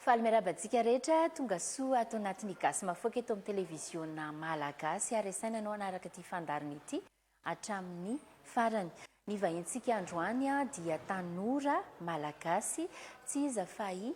Faly miarahaba antsika rehetra tongasoa ato anatin'ny Gasy Mahafaoka eto amin'ny televiziona Malagasy ary asaina ianao hanaraka ity fandaharana ity hatramin'ny farany. Ny vahintsika androany dia tanora Malagasy tsy iza fa i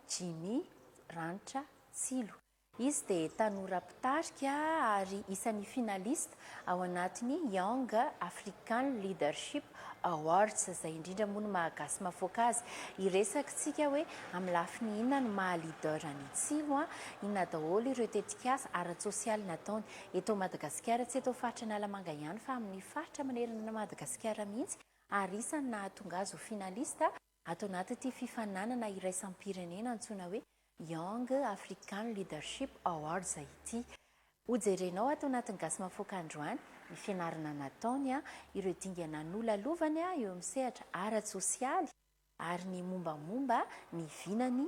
Jimmy Ranitra Tsilo. Izy dia tanora mpitarika ary isan'ny finaliste ao anatin'ny Young African Leadership Awards, izay indrindra moa no maha gasy mahafoaka azy. Hiresaktsika hoe amin'ny lafiny inona no maha leader an'i Tsilo, inona daholo ireo tetikasa ara-tsosialy nataony eto Madagasikara, tsy eto faritra Analamanga ihany fa amin'ny faritra manerana an'i Madagasikara mihitsy ary isan'ny nahatonga azy ho finaliste. Ato anatin'ity fifaninanana iraisam-pirenena antsoina hoe Young African Leadership Awards ity. Hojerenao ato anatin'ny Gasy Mahafoaka androany ny fianarana nataony, ireo dingana nolalovany eo amin'ny sehatra ara-tsosialy ary ny mombamomba ny vinany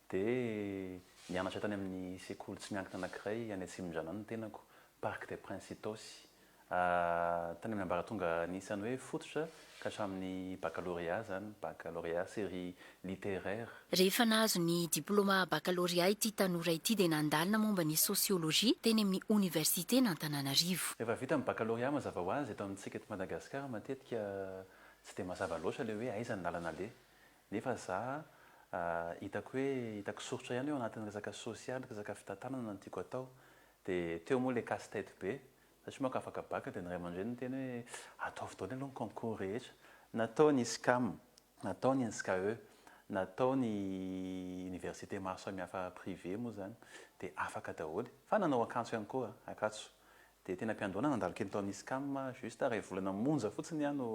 Dia nianatra tany amin'ny sekoly tsy miankina anankiray any Atsimondrano any ny tenako, Parc des Princes Itaosy. Tany amin'ny ambaratonga anisan'ny hoe fototra ka hatramin'ny baccalauréat izany, baccalauréat série littéraire. Rehefa nahazo ny diplaoma baccalauréat ity tanora ity dia nandalina momba ny sociologie teny amin'ny Oniversiten'Antananarivo. Rehefa vita ny baccalauréat mazava ho azy eto amintsika eto Madagasikara matetika tsy dia mazava loatra ilay hoe aiza ny lalana aleha. Nefa za hitako hoe hitako soritra ihany eo anatin'ny resaka sosialy, resaka fitantanana no tiako atao. Dia teo moa ilay casse tête be, za tsy manko afaka bac dia ny ray aman-dreniny niteny hoe ataovy daholo aloha ny concours rehetra. Natao ny SCAM, natao ny INSCAE, natao ny université maro samihafa privé moa izany dia afaka daholo. Fa nanao akanso ihany koa, akanso Dia tena mpiandoana nandalo kely tao amin'ny Iscam, juste iray volana monja fotsiny aho no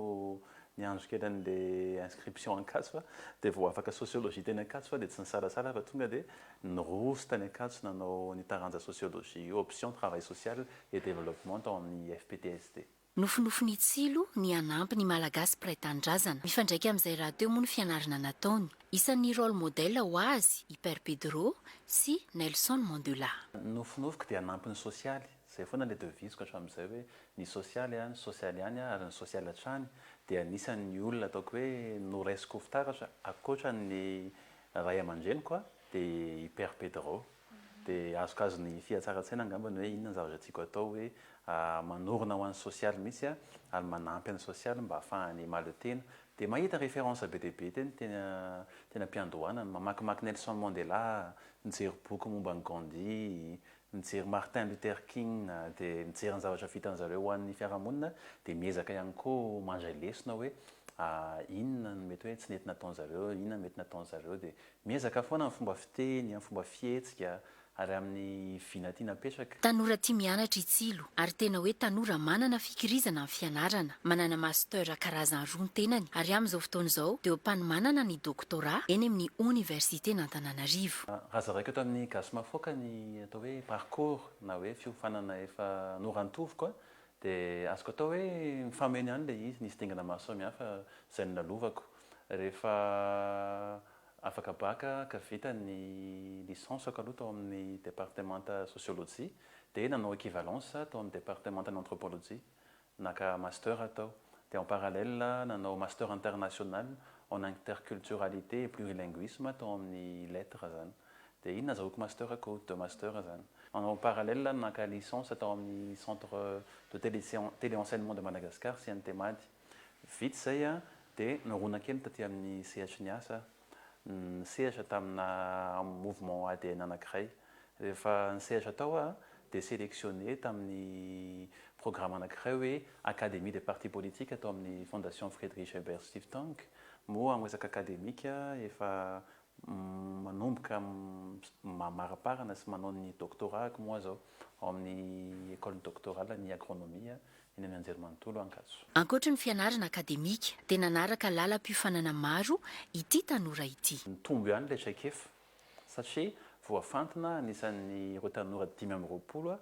niandry kely an'ilay inscription Ankatso a, dia vao afaka sociologie teny Ankatso aho dia tsy nisalasala fa tonga dia niroso tany Ankatso nanao ny taranja sociologie io, option travail social et développement tao amin'ny IFPTSD. Nofinofin'i Tsilo ny hanampy ny Malagasy mpiray tanindrazana. Mifandraika amin'izay rahateo moa ny fianarana nataony. Isan'ny role model ho azy i Père Pedro sy Nelson Mandula. Nofinofiko dia hanampy ny sosialy. Izay foana ilay devise-ko hatramin'izay hoe ny sosialy aho, ny sosialy ihany aho ary ny sosialy hatrany. Dia anisan'ny olona ataoko hoe noraisiko ho fitaratra ankoatra ny ray aman-dreniko dia i Père Pedro. Dia azokazon'ny fihatsaran-tsaina angamba ny hoe inona ny zavatra tiako atao hoe manorina ho an'ny sosialy mihitsy aho ary manampy an'ny sosialy mba hahafahany mahaleo tena. Dia mahita référence be dia be teny teny teny am-piandohana, mamakimaky Nelson Mandela, mijery boky momba an'i Gandhi, mijery Martin Luther King, dia mijery ny zavatra vitan'ny zareo ho an'ny fiarahamonina, dia miezaka ihany koa mandray lesona hoe inona no mety hoe tsy nety nataon'izareo, inona no mety nataon'izareo, dia Miezaka foana amin'ny fomba fiteny, amin'ny fomba fihetsika ary amin'ny vina tiana apetraka. Tanora tia mianatra i Tsilo ary tena hoe tanora manana fikirizana amin'ny fianarana. Manana Master karazany roa ny tenany ary amin'izao fotoana izao dia eo am-panomanana ny Doctorat eny amin'ny Oniversiten'Antananarivo. Raha zaraiko eto amin'ny Gasy Mafoaka ny atao hoe parcours na hoe fiofanana efa norantoviko Dia azoko atao hoe mifameno ihany ilay izy, nisy dingana maro samihafa izay nolalovako. Rehefa afaka bac ka vita ny licence-ko aloha tao amin'ny departemanta sociologie, dia nanao equivalence aho tao amin'ny departemantan'ny anthropologie, naka master aho tao. Dia en parallèle nanao master international en interculturalité et plurilinguisme tao amin'ny lettres izany. Dia iny nazahoako master ko, deux master zany. Manao en parallèle aho naka licence tao amin'ny centre de télé télé enseignement de Madagascar, CNTMAD. Vita izay aho dia nirona kely taty amin'ny sehatry ny asa aho. Nisehatra tamina mouvement ADN anankiray. Rehefa nisehatra tao aho dia sélectionné tamin'ny programme anankiray hoe Académie des partis politiques tao amin'ny Fondation Friedrich Ebert Stiftung. Moa amin'ny resaka académique efa manomboka mamaraparana sy manao ny doctorat-ko moa aza aho ao amin'ny Ecole Doctorale ny Agronomie eny amin'ny Anjerimanontolo Ankatso. Ankoatry ny fianarana akademika dia nanaraka lalam-piofanana maro ity tanora ity. Nitombo ihany ilay traikefa satria voafantina anisan'ireo tanora dimy amby roapolo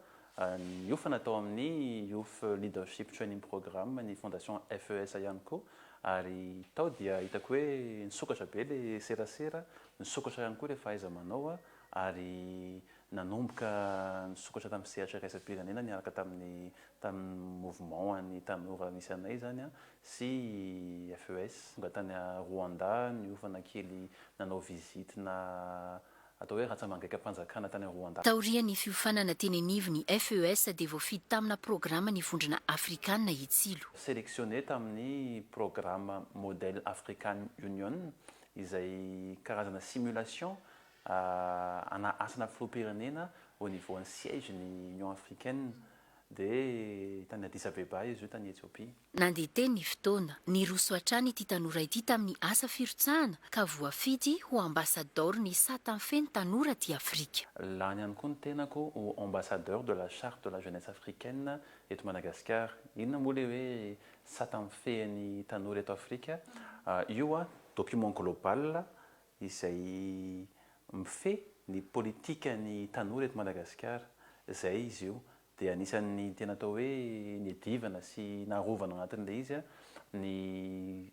Niofana tao amin'ny Youth Leadership Training Programme ny Fondation FESA ihany koa ary tao dia hitako hoe nisokatra be ilay serasera, nisokatra ihany koa ilay fahaiza-manao ary nanomboka nisokatra tamin'ny sehatra iraisam-pirenena niaraka tamin'ny tamin'ny mouvement an'ny tanora nisy anay izany sy FES. Tonga tany Rwanda, niofana kely nanao visite-na atao hoe ratsamangaikampanjakana tany Rwanda. Taorian'ny fiofanana teny anivon'ny FES dia voafidy tamina programa ny vondrona afrikana hitsilo. Sélectionné tamin'ny programa Model African Union izay karazana simulation ana asana filoham-pirenena au niveau an'ny siège ny Union africaine Dia tany Addis-Abeba izy io, tany Etiopia. Nandeha teny ny fotoana. Niroso hatrany ity tanora ity tamin'ny asa firotsahana ka voafidy ho ambasadaoron'ny sata feno tanora aty Afrika. Lany ihany koa ny tenako ho ambassadeur de la charte de la jeunesse africaine eto Madagasikara. Inona moa ilay hoe sata mifehy ny tanora eto Afrika? Io document global izay mifehy ny politikan'ny tanora eto Madagasikara, izay izy io dia anisan'ny tena atao hoe niadivana sy narovana anatin'ilay izy ny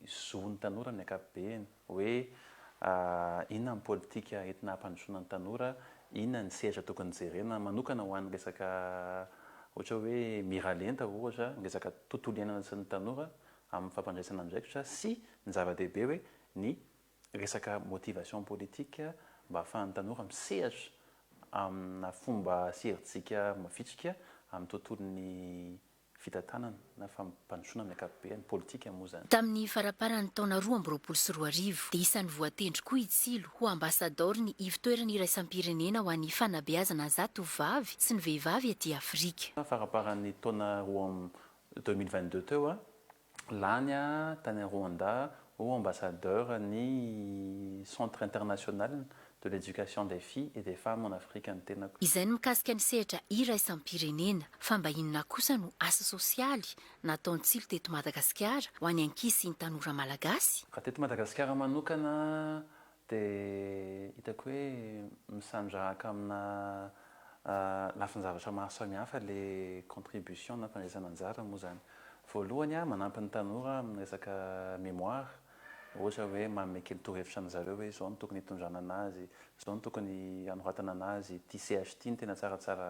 zon'ny tanora amin'ny ankapobeny hoe inona ny politika entina hampandrosoana ny tanora, inona ny sehatra tokony jerena manokana ho an'ny resaka ohatra hoe miralenta ohatra, ny resaka tontolo iainana sy ny tanora amin'ny fampandraisana andraikitra sy ny zava-dehibe hoe ny resaka motivation politique mba ahafahan'ny tanora misehatra amina fomba sy herijika mavitrika amin'ny tontolon'ny fitantanana na fampandrosoana amin'ny ankapobeny, politika moa izany. Tamin'ny faraparan'ny taona roa amby roapolo sy roa arivo dia isan'ny voatendry koa i Tsilo ho ambasadaoron'ny Ivotoerana Iraisam-pirenena ho an'ny Fanabeazana Zatovovavy sy ny Vehivavy aty Afrika. Faraparan'ny taona roa amby deux mille vingt-deux teo lany tany Rwanda ho ambassadeur ny Centre international de l'Education des Filles et des Femmes en Afrique ny tenako. Izay ny mikasika ny sehatra iraisam-pirenena. Fa mba inona kosa no asa sosialy nataon-tsilo teto Madagasikara ho an'ny ankizy sy ny tanora malagasy? Raha teto Madagasikara manokana Dia hitako hoe misandrahaka amina lafin-javatra maro samihafa ilay contribution na fandraisana anjara moa izany. Voalohany, manampy ny tanora amin'ny resaka mémoire, ohatra hoe manome kely torohevitra an-dry zareo hoe izao no tokony hitondrana an'azy, izao no tokony hanoratana an'azy, ity CH ity no tena tsaratsara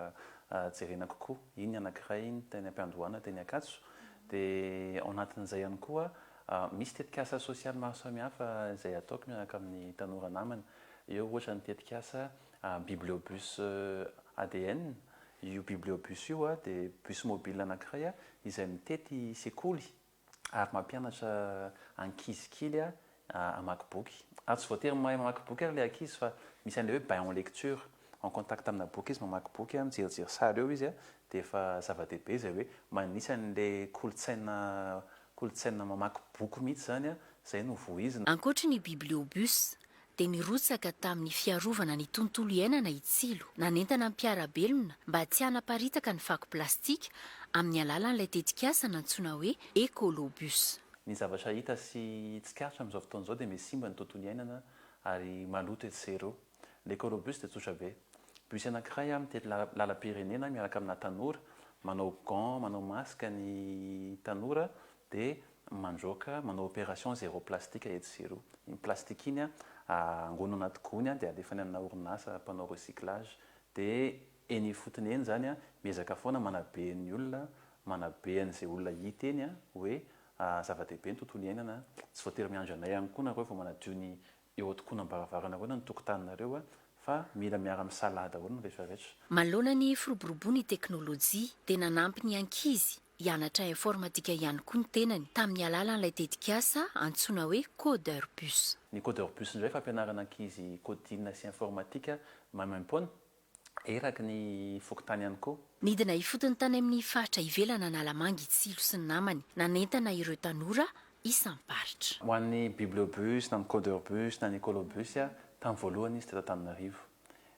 jerena kokoa, iny ny anankiray iny, teny am-piandohana, teny ankatso. Dia ao anatin'izay ihany koa Misy tetikasa sosialy maro samihafa izay ataoko miaraka amin'ny tanora namana. Eo ohatra ny tetikasa Bibliobus ADN. Io Bibliobus io dia bus mobile anankiray izay mitety sekoly ary mampianatra ankizy kely hamaky boky. Ary tsy voatery mahay mamaky boky ary ilay ankizy fa misy an'ilay hoe bain en lecture. en contact amina boky izy mamaky boky a mijerijery sary eo izy a de efa zava-dehibe izay hoe manisa an'le kolontsaina kolontsaina mamaky boky mihitsy zany a zay no vohizina. Ankoatry ny bibliobus, dia nirotsaka tamin'ny fiarovana ny tontolo iainana i Tsilo, nanentana ny mpiara-belona mba tsy hanaparitaka ny fako plastika amin'ny alalan'ilay tetikasa nantsoina hoe Ecolobus. Ny zavatra hita sy tsikaritra amin'izao fotoana izao dia miha simba ny tontolo iainana ary maloto etsy sy eroa. L'Ecorobus dia tsotra be. Bus anankiray mitety lalam-pirenena miaraka amina tanora, manao gants, manao masque ny tanora dia mandroaka, manao opération zéro plastique etsy sy eroa. Iny plastique iny angoniny anaty gony dia alefany amina orinasa mpanao recyclage dia eny ifotony eny izany miezaka foana manabe ny olona, manabe an'izay olona hita eny hoe zava-dehibe ny tontolo iainana, tsy voatery miandry anay ihany koa nareo vao manadio ny eo an-tokonam-baravarana ahoana ny tokotaninareo fa mila miara-misalahy daholo ny rehetra rehetra. Manoloana ny firoboroboan'ny teknolojia dia nanampy ny ankizy hianatra informatika ihany koa ny tenany tamin'ny alalan'ilay tetikasa antsoina hoe Coderbus. Ny Coderbus indray fampianarana ankizy coding sy informatika maimaim-poana eraky ny fokontany ihany koa. Nidina ifotony tany amin'ny faritra ivelan' Analamanga i Tsilo sy ny namany, nanentana ireo tanora isam-paritra. Ho an'ny Bibliobus na ny Coderbus na ny Ecolobus, tamin'ny voalohany izy teto Antananarivo.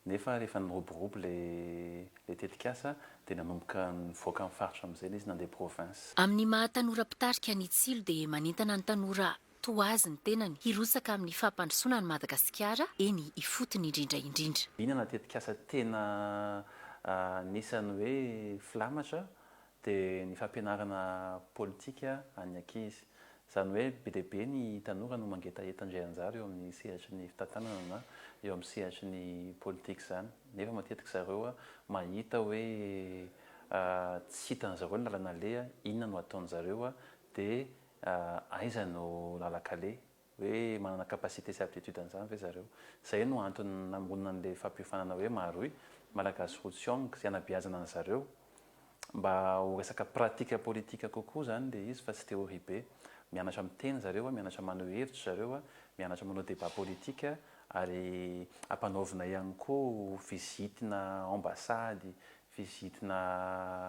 Nefa rehefa niroborobo ilay tetikasa dia nanomboka nivoaka amin'ny faritra amin'izay ilay izy, nandeha province. Amin'ny maha tanora mpitarika an'i Tsilo dia manentana ny tanora toa azy ny tenany hirotsaka amin'ny fampandrosoana an'i Madagasikara eny ifotony indrindra indrindra. Inona tetikasa tena anisan'ny hoe filamatra dia ny fampianarana politika an'ny ankizy. Izany hoe be dia be ny tanora no mangetaheta handray anjara eo amin'ny sehatry ny fitantanana na eo amin'ny sehatry ny politika izany nefa matetika zareo mahita hoe tsy hitan'izareo ny lalana aleha, inona no ataon'izareo dia Aiza no lalan-kale? Hoe manana capacité sy aptitude an'izany ve zareo? Izay no antony namoronana an'ilay fampiofanana hoe Maharohy, Malagasy Roa Tsiong, izay anabeazana an'zareo mba ho resaka pratique politique kokoa izany ilay izy fa tsy théorie be. Mianatra miteny zareo a, mianatra maneho hevitra zareo a, mianatra manao débat politique ary ampanaovina ihany koa visite-na ambassade vizitina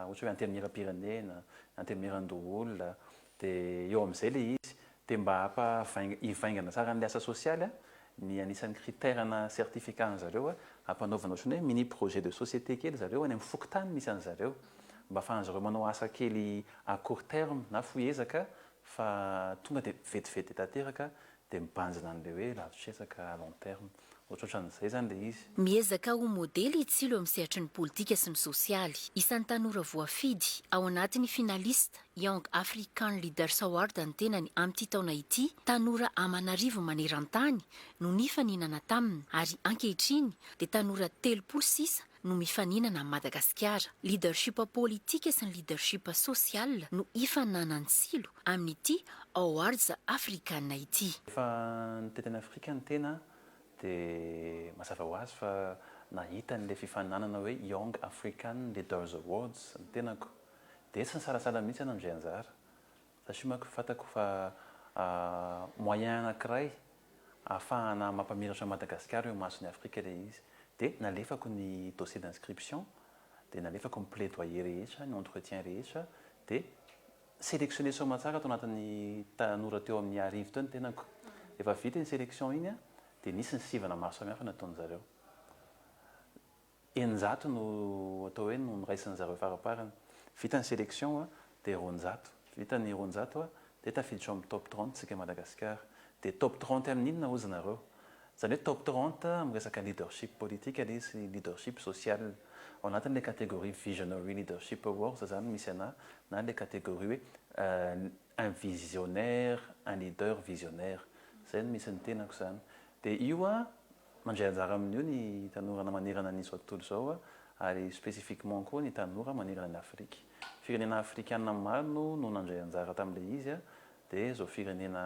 ohatra hoe antenimieram-pirenena, antenimieran-doholona, dia eo amin'izay ilay izy, dia mba hampa hivaingana tsara an'ilay asa sosialy ny anisan'ny critère na certificat an'i zareo hampanaovana ohatran'ny hoe mini projet de société kely zareo any amin'ny fokontany misy an'i zareo mba afahan'i zareo manao asa kely à court terme na fohy ezaka fa tonga dia vetivety tanteraka dia mibanjina an'ilay hoe lavitr'efaka à long terme. Ohatrohatran'izay izany ilay izy. Miezaka ho modely i Tsilo amin'ny sehatry ny politika sy ny sosialy. Isan'ny tanora voafidy, ao anatin'ny finaliste, Young African Leaders Award ny tenany amin'ity taona ity, tanora aman'arivony maneran-tany no nifaninana taminy ary ankehitriny dia tanora telopolo sisa no mifaninana amin'i Madagasikara. Leadership politika sy ny leadership social no hifaninanan'ny Silo amin'ity Awards Africana ity. Rehefa nitety an'i Afrika ny tena dia mazava ho azy fa nahita an'ilay fifaninanana hoe Young African Leaders Awards ny tenako. Dia tsy nisalasala mihitsy aho nandray anjara. Za sy manko fatako fa moyen anakiray ahafahana mampamiratra an'i Madagasikara eo imason'i Afrika ilay izy. Dia nalefako ny dossier d'inscription, dia nalefako ny plaidoyer rehetra, ny entretien rehetra, dia selectionner soamatsara tao anatin'ny tanora teo amin'ny arivo teo ny tenako. Rehefa vita iny selection iny dia nisy ny sivana maro samihafa nataon'izareo. eninjato no atao hoe no noraisin'ny zareo faraparany. Vita ny selection a, dia roanjato. Vita ny roanjato a, dia tafiditra ao amin'ny top trente tsika Madagasikara. Dia top trente amin'ny inona hozy nareo? Izany hoe top trente amin'ny resaka leadership politique anie izy sy leadership social. Ao anatin'ilay catégorie visionary leadership awards izany no misy anà na ilay catégorie hoe un visionnaire, un leader visionnaire. Izay no misy ny tenako izany. Dia io a, Mandray anjara amin'io ny tanorana manerana an'izao tontolo izao ary spécifiquement koa ny tanora manerana an'i Afrique. Firenena afrikana maro no no nandray anjara tamin'ilay izy dia izao firenena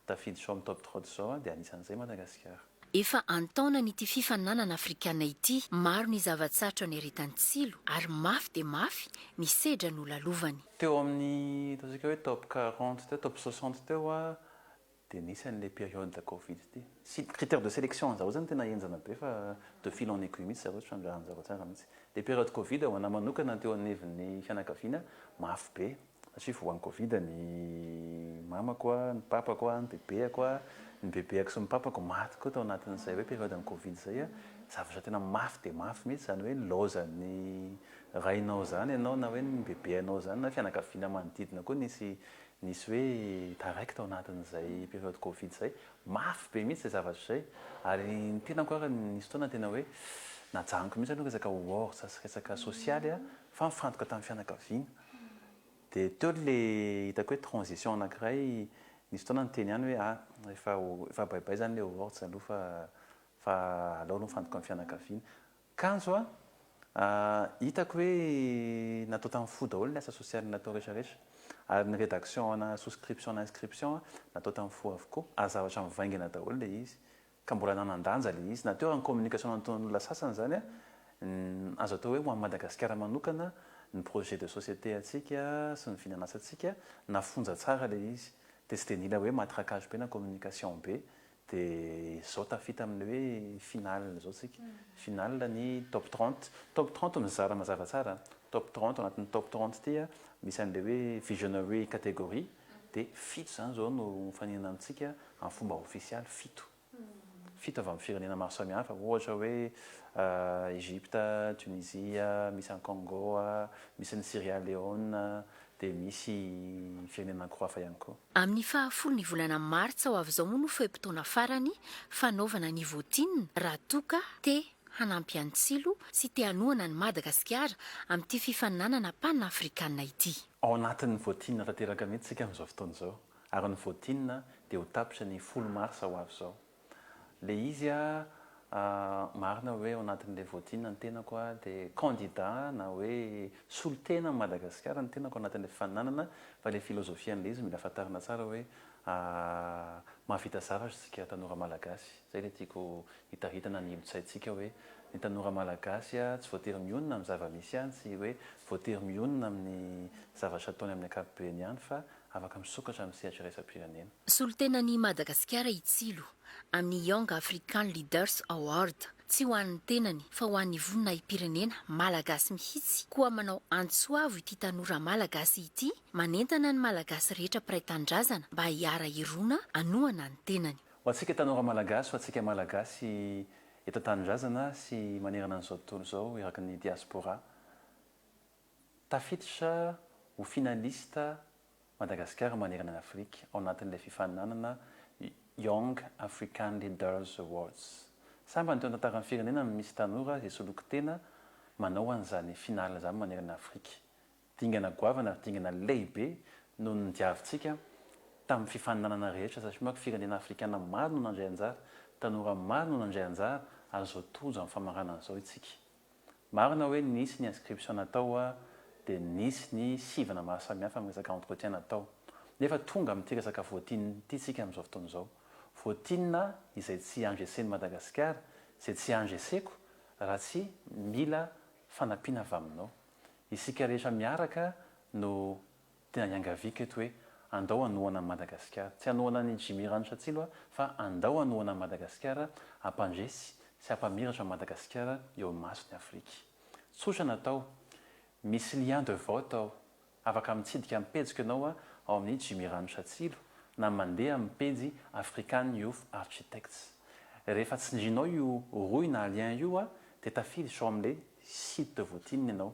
tafiditra ao amin'ny top trotte izao dia anisan'izay Madagasikara. Efa an-taonany ity fifaninanana afrikana ity, maro ny zava-tsarotra niaretany tsilo ary mafy dia mafy ny sedra nolalovany. Teo amin'ny ataontsika hoe top quarante teo, top soixante teo Dia nisy an'ilay période covid ity. Tsy critère de sélection an'zareo zany tena henjana be fa de fil en aiguille mihitsy zareo trandrahan'zareo tsara mihitsy. Ilay période covid ho anah manokana teo anivon'ny fianakaviana mafy be satria voan'ny covid ny mamako, ny papako, ny bebeako, ny bebeako sy ny papako maty koa tao anatin'izay hoe période an'ny covid izay. Zavatra tena mafy dia mafy mihitsy izany hoe nilaozan'ny rainao izany ianao na hoe ny bebeanao izany na fianakaviana manodidina koa nisy nisy hoe taraiky tao anatin'izay période covid izay, mafy be mihitsy izay zavatra izay, ary ny tenako ary nisy fotoana tena hoe najanoko mihitsy aloha resaka awards sy resaka sosialy fa nifantoka tamin'ny fianakaviana, dia teo ilay hitako hoe transition anankiray, nisy fotoana niteny ihany hoe ah efa efa baibay izany ilay awards aloha fa fa aleo aloha mifantoka amin'ny fianakaviana, Kanjo a! hitako hoe natao tamin'ny fo daholo ny asa sosialy natao rehetrarehetra. Ary ny redaction ana souscription na inscription natao tamin'ny fo avokoa, ary zavatra mivaingana daholo ilay izy, ka mbola nanan-danja ilay izy. Na teo ary ny communication nataon'olona sasany izany azo atao hoe ho an'i Madagasikara manokana ny projet de société antsika sy ny vinan'asantsika, nafonja tsara ilay izy, dia tsy dia nila hoe matraquage be na communication be Dia izao tafita amin'ny hoe finale izao isika. Finale ny top trente. Top trente mizara mazava tsara an. Top trente, ao anatin'ny top trente ity an, misy an'ilay hoe visionary category, dia fito izany izao no mifaninana amintsika amin'ny fomba ofisialy, fito. Fito avy amin'ny firenena maro samihafa, ohatra hoe Egypte, Tunisia, misy any Congo, misy any Sierra Leone, dia misy fiainana ankoho hafa ihany koa. Amin'ny faha folo ny volana martsa ho avy izao moa no fe-potoana farany fanaovana ny votin raha toa ka te hanampy an'i Tsilo sy te hanohana an'i Madagasikara amin'ity fifaninanana pan afrikana ity. Ao anatin'ny votin tanteraka mihitsy isika amin'izao fotoana izao ary ny votin dia ho tapitra ny folo marsa ho avy izao. le izy a marina oe ao anatin le votinina ny tenako a de candidat na oe solotena am Madagasikara ny tenako anatin le fifaninanana fa le filozofian le izy mila fantarina tsara oe a mahavita zavatra tsika tanora malagasy zay le tiako hitaritana ny ilotsaintsika oe ny tanora malagasy a tsy voatery mionona am zava misy ihany tsy oe voatery mionona aminy zavatra ataony aminy ankapobeny ihany fa afaka misokatra amin'ny sehatra iraisam-pirenena. Solontenan'i Madagasikara i Tsilo, amin'ny Young African Leaders Award. Tsy ho an'ny tenany, fa ho an'ny voninahi-pirenena Malagasy mihitsy, koa manao antso avo ity tanora Malagasy ity, manentana ny Malagasy rehetra mpiray tanindrazana mba hiara-hirona hanohana ny tenany. Ho antsika tanora Malagasy, ho antsika Malagasy eto an-tanindrazana sy manerana an'izao tontolo izao eraky ny Diaspora, Tafiditra ho finaliste Madagasikara manerana an'i Afrika ao anatin'ilay fifaninanana Young African Leaders Awards. Sambany teo an-tantaran'ny firenena no misy tanora izay soloky tena manao an'izany finale izany manerana an'i Afrika. Dingana goavana ary dingana lehibe no nodiavintsika tamin'ny fifaninanana rehetra satria manko firenena afrikana maro no nandray anjara, tanora maro no nandray anjara ary izao tojo amin'ny famaranana izao isika. Marina hoe nisy ny inscription natao hoa dia nisy ny sivana maro samihafa amin'ny resaka entretien natao. Nefa tonga amin'ity resaka votin ity isika amin'izao fotoana izao. Votin izay tsy engecen'i Madagasikara, izay tsy engeseko raha tsy mila fanampiana avy aminao. Isika rehetra miaraka no. Tena iangaviako eto hoe andao hanohana an'i Madagasikara. Tsy hanohana an'i Jimmy Ranosatsilo aho fa andao hanohana an'i Madagasikara, hampandresy sy hampamiratra an'i Madagasikara eo imason'i Afrika. Tsotra ny atao, misy lien de vote ao, afaka mitsidika ny pejiko ianao ao amin'ny Jimmy Ranosatsilo na mandeha amin'ny pejy African Youth Architects. Rehefa tsindrinao io rohy na lien io dia tafiditra ao amin'ilay site de voting ianao.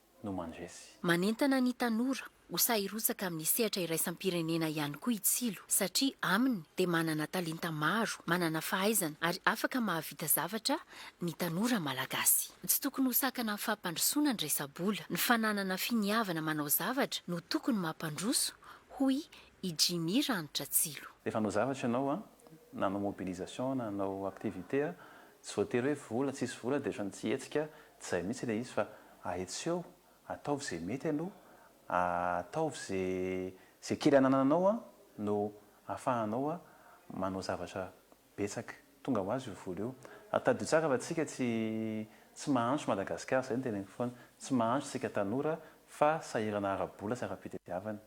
no mandresy. Manentana ny tanora ho sahy hirotsaka amin'ny sehatra iraisam-pirenena ihany koa i Tsilo satria aminy dia manana talenta maro, manana fahaizana ary afaka mahavita zavatra ny tanora malagasy. Tsy tokony ho sakana amin'ny fampandrosoana ny resa-bola, ny fananana finiavana manao zavatra no tokony mampandroso, hoy i Jimmy Ranitra Tsilo. Rehefa hanao zavatra ianao na hanao mobilisation na hanao activité Tsy voatery hoe vola, tsisy vola dia ohatran'ny tsy hetsika, tsy izay mihitsy ilay izy fa hay tsy eo, ataovy izay mety aloha, ataovy izay, izay kely anananao no ahafahanao manao zavatra betsaka, tonga ho azy io vola io. Ary tadidio tsara fa tsika tsy tsy mahantra Madagasikara, izay no teneniko foana, tsy mahantra tsika tanora fa sahirana ara-bola sy ara-pitediavana.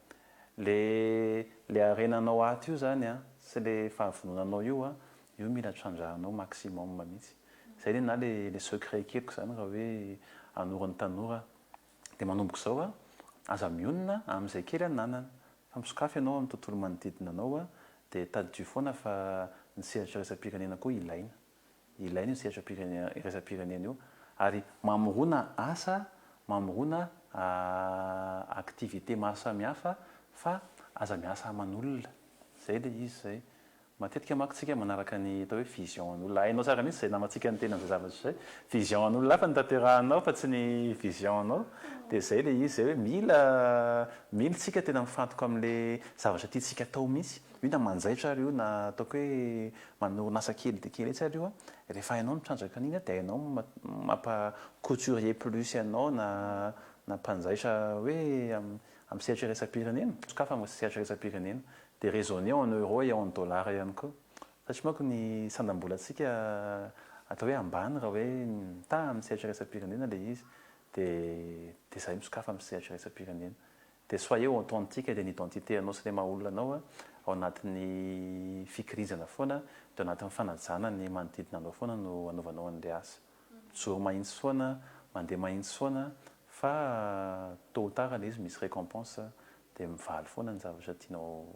Ilay ilay harenanao ato io izany sy ilay fahavononanao io Io mila trandrahanao maximum mihitsy. Zay le na le secret ekeniko zany raha hoe hanoro ny tanora de manomboka izao a, aza mionona amin'izay kely ananana fa misokafy ianao amin'ny tontolo manodidina anao a, de tadidio foana fa ny sehatra iraisam-pirenena koa ilaina. Ilaina io sehatra pirenena iraisam-pirenena io ary mamorona asa, mamorona activité maro samihafa fa aza miasa aman'olona. Zay le izy zay. Matetika manko tsika manaraka ny atao hoe vision an'olona. Hainao tsara mihitsy izay namantsika niteny an'izay zavatra izay. Vision an'olona hafa no tanterahanao fa tsy ny vision anao. Dia izay ilay izy izay hoe mila mila isika tena mifantoka amin'ilay zavatra tiantsika atao mihitsy. Io na manjaitra ary io na ataoko hoe manorina asa kely dia kely etsy ary io. Rehefa hainao ny mitrandraka an'iny dia hainao ny mampa couturier plus anao na na mpanjaitra hoe amin'ny sehatry ny iraisam-pirenena. Sokafana amin'ny sehatry ny iraisam-pirenena. Dia raisonner en euro et en dollars ihany koa. Fa tsy manko ny sandam-bolantsika atao hoe ambany raha hoe mitaha amin'ny sehatra iraisam-pirenena ilay izy. Dia dia izahay misokafa amin'ny sehatra iraisam-pirenena. Dia soyez authentique dia ny identité anao sy ilay maha olona anao ao anatin'ny fikirizana foana dia ao anatin'ny fanajana ny manodidina anao foana no anaovanao an'ilay asa. Mijoro mahitsy foana, mandeha mahitsy foana fa tôt ou tard ilay izy misy récompense Dia mivaly foana ny zavatra tianao,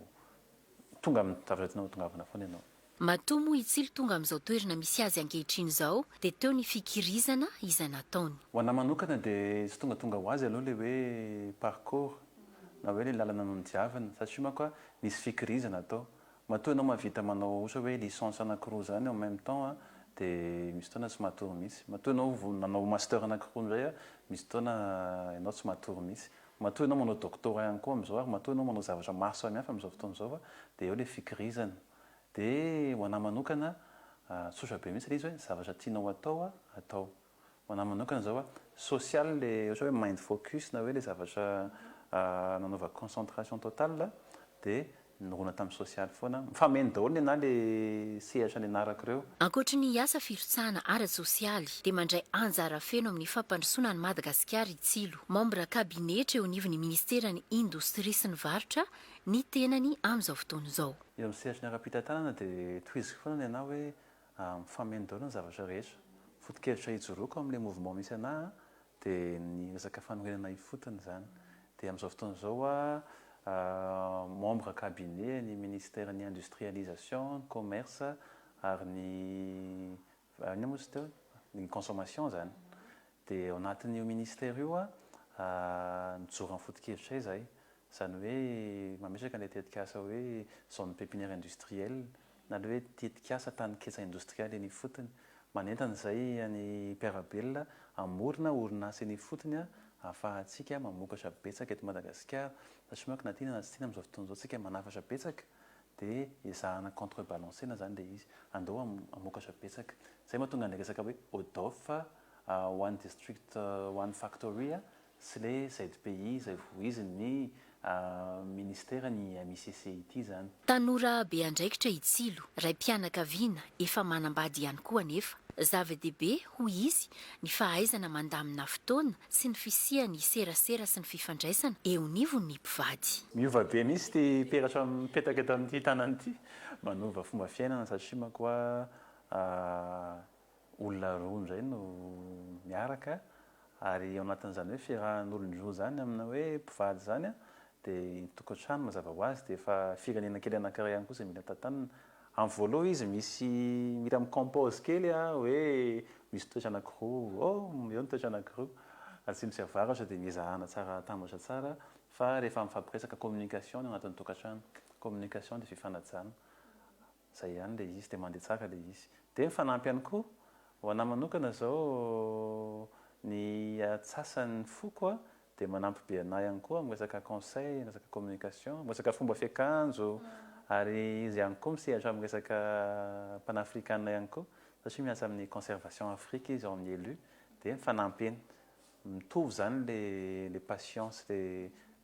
tonga amin'ny zavatra tianao hatongavana foana ianao. Matoa moa i Tsilo tonga amin'izao toerana misy azy ankehitriny izao dia teo ny fikirizana izay nataony. Ho anà manokana dia tsy tongatonga ho azy aloha ilay hoe parcours na hoe ilay lalana nodiaviny satria manko a nisy fikirizana tao. Matoa ianao mahavita manao ohatra hoe licence anankiroa izany en même temps a dia misy fotoana tsy matory mihitsy. Matoa ianao nanao master anankiroa indray a misy fotoana ianao tsy matory mihitsy. Matoa ianao manao doctorat ihany koa amin'izao ary matoa ianao manao zavatra maro samihafa amin'izao fotoana izao fa dia eo ilay fikirizana. Dia ho anà manokana, tsotra be mihitsy ilay izy hoe zavatra tianao atao, atao. Ho anà manokana izao, social ilay ohatra hoe mind focus na hoe ilay zavatra nanaovako concentration totale dia Nirona tamin'ny sosialy foana. Mifameno daholo ny anah le sehatra nianarako ireo. Ankoatry ny asa firotsahana ara-tsosialy dia mandray anjara feno amin'ny fampandrosoana an'i Madagasikara i Tsilo. Membre kabinetra eo anivon'ny Ministeran'ny Indostria sy ny Varotra ny tenany amin'izao fotoana izao. Eo amin'ny sehatry ny ara-pitantanana dia tohiziko foana ny anah hoe mifameno daholo ny zavatra rehetra. Foto-kevitra hijoroako amin'ilay mouvement misy anah Dia ny resaka fanorenana ifotony izany. Dia amin'izao fotoana izao hoa membre cabinet an'ny ministère ny industrialisation, ny commerce ary ny inona moa izy teo? ny consommation izany. Dia ao anatin'io ministère io hoa mijoro amin'ny foto-kevitray izahay. Izany hoe mametraka ilay tetikasa hoe zone pépinière industrielle na le hoe tetikasa tanin-ketsa indostrialy eny ifotony. Manentana izay ny mpiara-belona hamorona orinasa eny ifotony ahafahantsika mamokatra betsaka eto Madagasikara, satria manko na tiana na tsy tiana amin'izao fotoana izao isika manafatra betsaka dia ezahana contre balancer-na izany ilay izy, andao hamokatra betsaka. Izay mahatonga an'ilay resaka hoe ODOF ho an'ny district one factory sy le ZPI izay vohizin ny Ministera ny MICC ity izany. Tanora be andraikitra i Tsilo, raim-pianakaviana efa manambady ihany koa anefa. Zava-dehibe, hoy izy, ny fahaizana mandamina fotoana sy ny fisian'ny serasera sy ny fifandraisana eo anivon'ny mpivady. Miova be mihitsy ity peratra mipetaka eto amin'ity tanana ity. Manova fomba fiainana satria manko a olona roa indray no miaraka ary ao anatin'izany hoe fiarahan'olona roa izany amina hoe mpivady izany dia ny tokantrano mazava ho azy dia efa firenena kely anankiray ihany koa izay mila tantanina. Amin'ny voaloha izy misy mila mi-compose kely hoe misy toetra anankiroa oh eo ny toetra anankiroa atsimo sy avaratra dia miezahana tsara atambatra tsara fa rehefa mifampiresaka communication ny ao anatin'ny tokantrano. Communication dia fifanajana. Zay ihany le izy de mande tsara le izy. De mifanampy ihany koa, ho anah manokana zao ny atsasan'ny foko a de manampy be anah ihany koa amin'ny resaka conseil, resaka communication, resaka fomba fiakanjo ary izy ihany koa misehatra amin'ny resaka panafrikana ihany koa satria miasa amin'ny conservation afrika izy ao amin'ny elu de mifanampy eny. Mitovy zany le le passion sy le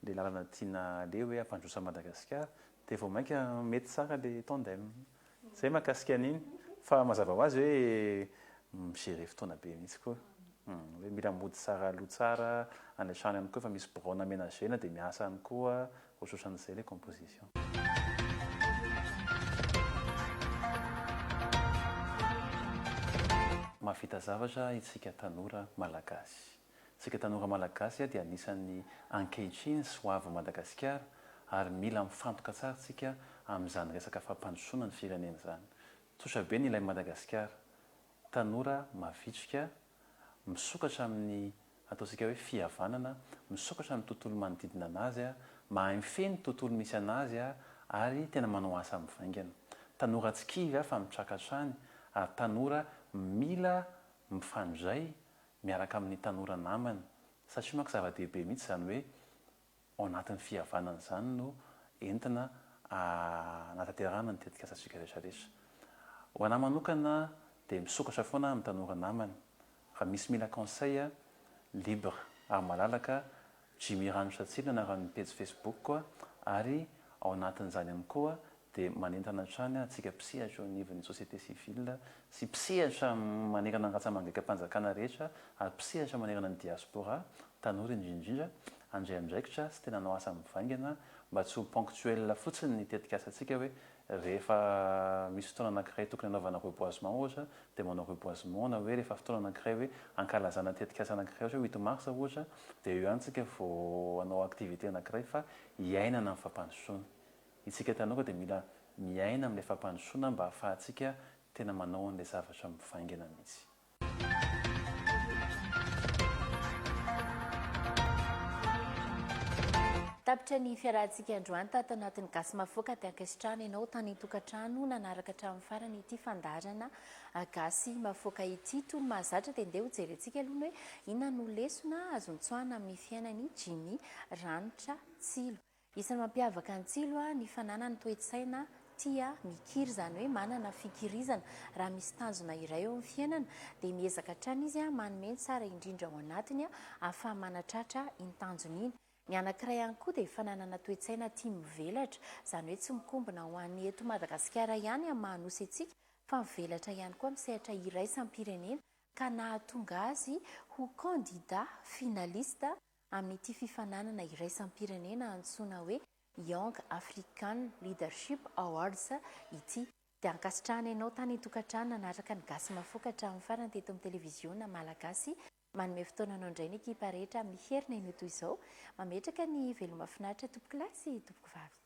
le lalana tiana aleha hoe hampandroso an'i Madagasikara Dia vao mainka mety tsara le tandem. Zay mahakasika an'iny. Fa mazava ho azy hoe mi-gerer fotoana be mihitsy koa. Hoe mila mody tsara aloha tsara, any an-trano ihany koa efa misy biraona amenager-na dia miasa any koa, ohatrohatran'izay le composition. Mahavita zavatra itsika tanora Malagasy. Isika tanora Malagasy dia anisan'ny ankehitriny sy ho avin'i Madagasikara ary mila mifantoka tsara isika amin'izany resaka fampandrosoana ny firenena izany. Tsotra be ny ilain'i Madagasikara, tanora mavitrika, misokatra amin'ny ataontsika hoe fihavanana, misokatra amin'ny tontolo manodidina an'azy, mahay mifehy ny tontolo misy an'azy ary tena manao asa mivaingana. Tanora tsy kivy fa mitraka hatrany ary tanora mila mifandray miaraka amin'ny tanora namany, satria manko zava-dehibe mihitsy izany hoe ao anatin'ny fihavanana izany no entina hanatanterahana ny tetikasantsika rehetra rehetra. Ho an'ahy manokana dia misokatra foana aho amin'ny tanora namany, raha misy mila conseil libre ary malalaka Jimmy Ranosatsina anaran'ny pejy Facebook-ko ary ao anatin'izany ihany koa dia manentana hatrany antsika mpisehatra eo anivon'ny société civile sy mpisehatra manerana ny ratsamangekam-panjakana rehetra ary mpisehatra manerana ny diaspora, tanora indrindra indrindra, handray andraikitra sy tena hanao asa mivaingana mba tsy ho ponctuel fotsiny ny tetikasantsika hoe Rehefa misy fotoana anankiray tokony hanaovana reboisement ohatra dia manao reboisement na hoe rehefa fotoana anankiray hoe hankalazana tetikasa anankiray ohatra hoe huit mars ohatra dia eo ihany tsika vao hanao activité anankiray fa hiainana ny fampandrosoana. Itsika tanora koa dia mila miaina amin'ilay fampandrosoana mba ahafahantsika tena manao an'ilay zavatra mivaingana mihitsy. Tapitra ny fiarahantsika androanta ato anatin'ny Gasy Mahafoka dia ankasitrahana ianao tany an-tokantrano nanaraka hatramin'ny farany ity fandaharana ah, Gasy Mahafoka ity. Toy ny mahazatra dia ndeha hojerentsika aloha ny hoe inona no lesona azo nitsoahana amin'ny fiainan'i Jimmy Ranitra Tsilo. Isan'ny mampiavaka an'i Tsilo ny fananany toe-tsaina tia mikiry, izany hoe manana fikirizana. Raha misy tanjona iray eo amin'ny fiainana dia miezaka hatrany izy manome ny tsara indrindra ao anatiny ahafaha-manatratra iny tanjony iny. Ny anankiray ihany koa dia fananana toe-tsaina tia mivelatra, izany hoe tsy mikombona ho an'ny eto Madagasikara ihany amin'ny maha Nosy antsika fa mivelatra ihany koa amin'ny sehatra iraisam-pirenena ka nahatonga azy ho candidat finaliste amin'ity fifaninanana iraisam-pirenena antsoina hoe Young African Leadership Awards ity. Dia ankasitrahana ianao tany an-tokantrano nanaraka ny Gasy Mafoka hatramin'ny farany teto amin'ny televiziona Malagasy. Manome fotoana anao indray ny ekipa rehetra miherina iny ho toy izao. Mametraka ny veloma finaritra tompokolahy sy tompokovavy.